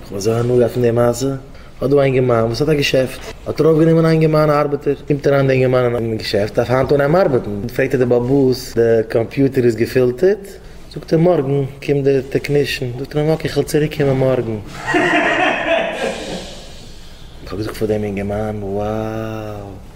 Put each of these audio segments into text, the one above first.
איך וועל זיי הנאה פון די מעשה, האט דא א אינגערמאן וואס האט א געשעפט, האט ער אויפגענומען א אינגערמאן ארבעטער, קומט אריין די אינגערמאן אין געשעפט, דארף היינט אנהייבן ארבעטן, פרעגט ער די בעל באס, די קאמפיוטער איז געפילטערט, זאגט ער מארגן קומט די טעקנישן, זאגט ער אים אקעי כ'וועל צוריק קומען מארגן. איך האב געזאגט פאר דעם אינגערמאן, wow.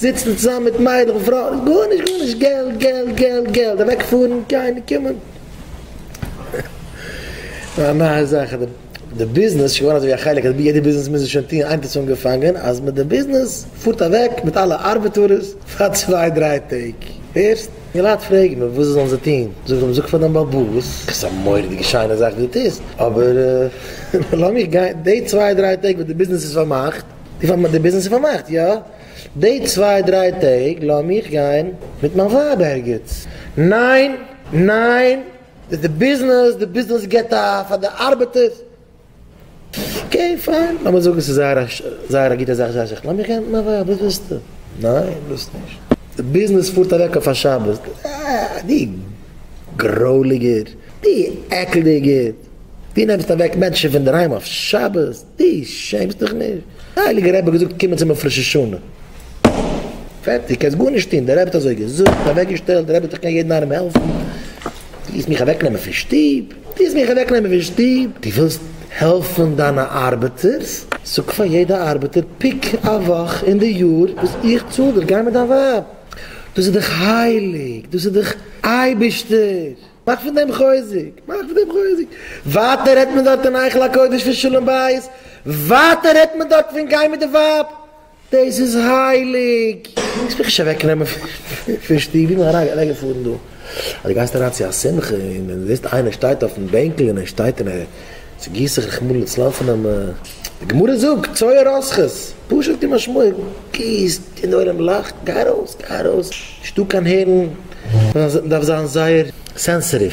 זיצן צוזאמען מיט מיידלעך און פרויען איז גארנישט גארנישט געלט געלט געלט געלט אוועק פארן גיין און קומען א נייע זאך איז די ביזנעס שוין געווארן אזוי ווי א חלק אז בי יעדע ביזנעס מוז עס שוין טוען היינט האט עס אנגעפאנגען אז מיט די ביזנעס פארט אוועק מיט אלע ארבעטארעס פאר צוויי דריי טעג הערסט די לייט פרעגן מיר וואס זאלן זיי טון זאג אים זאג פאר דיין באבע וואס איז א מורא'דיגע שיינע זאך וואס די טוסט אבער לאמיך גיין די צוויי דריי טעג וואס די ביזנעס איז פארמאכט. די פאר די ביזנעס איז פארמאכט יא די צוויי דריי טעג לאמיך גיין מיט מיין ווייב ערגעץ ניין ניין איז די ביזנעס די ביזנעס געט א פאר די ארבעטערס אקעי פיין לאמיר זאגן ס'איז זייער זייער א גוטע זאך זייער שיך לאמיך גיין מיט מיין ווייב וואס ווילסטו ניין ווילסט נישט די ביזנעס פארט אוועק אויף א שבת אה די גרויליגער די עקלדיגער די נעמסט אוועק מענטשן פון דערהיים אויף שבת. די שעמסט דיך נישט? די הייליגע רבי האט געזאגט קומען צום אויף ראש השנה. פערטיג קענסט גארנישט טון, די רבי האט אזוי געזאגט, אוועק געשטעלט, די רבי האט דאך קען יעדן איינעם העלפן. די ווילסט מיך אוועק נעמען פון שטוב? די ווילסט מיך אוועק נעמען פון שטוב? די ווילסט העלפן דיינע ארבעטערס? זאג פאר יעדע ארבעטער פיק א וואך אין די יאר וואס איך צאל דיר, גיי מיט דיין ווייב. דאס איז דאך הייליג, דאס איז דאך אייבערשטער. מאך פון דעם חוזק, מאך פון דעם חוזק. ווייטער רעדט מען דארט אין היכל הקודש פון שלום בית, ווייטער רעדט מען דארט פון גיין מיט די ווייב, דאס איז הייליג, דאס וועל איך נישט אוועק נעמען פון שטוב, ווי מען אריין געפארן דא, אז דו גייסט אריין צו א שמחה און זעסט איינער שטייט אויפן בענקל און ער שטייט און ער. צו גיס איך רחמנא לצלן פון א מ. די גמרא זאגט, צוה רסכות, פשוט ווי משמעו, גיסט און די עולם לאכט, גיי ארויס, גיי ארויס, נישטא קיין הערן, מען דארף זיין זייער סענסעטיוו.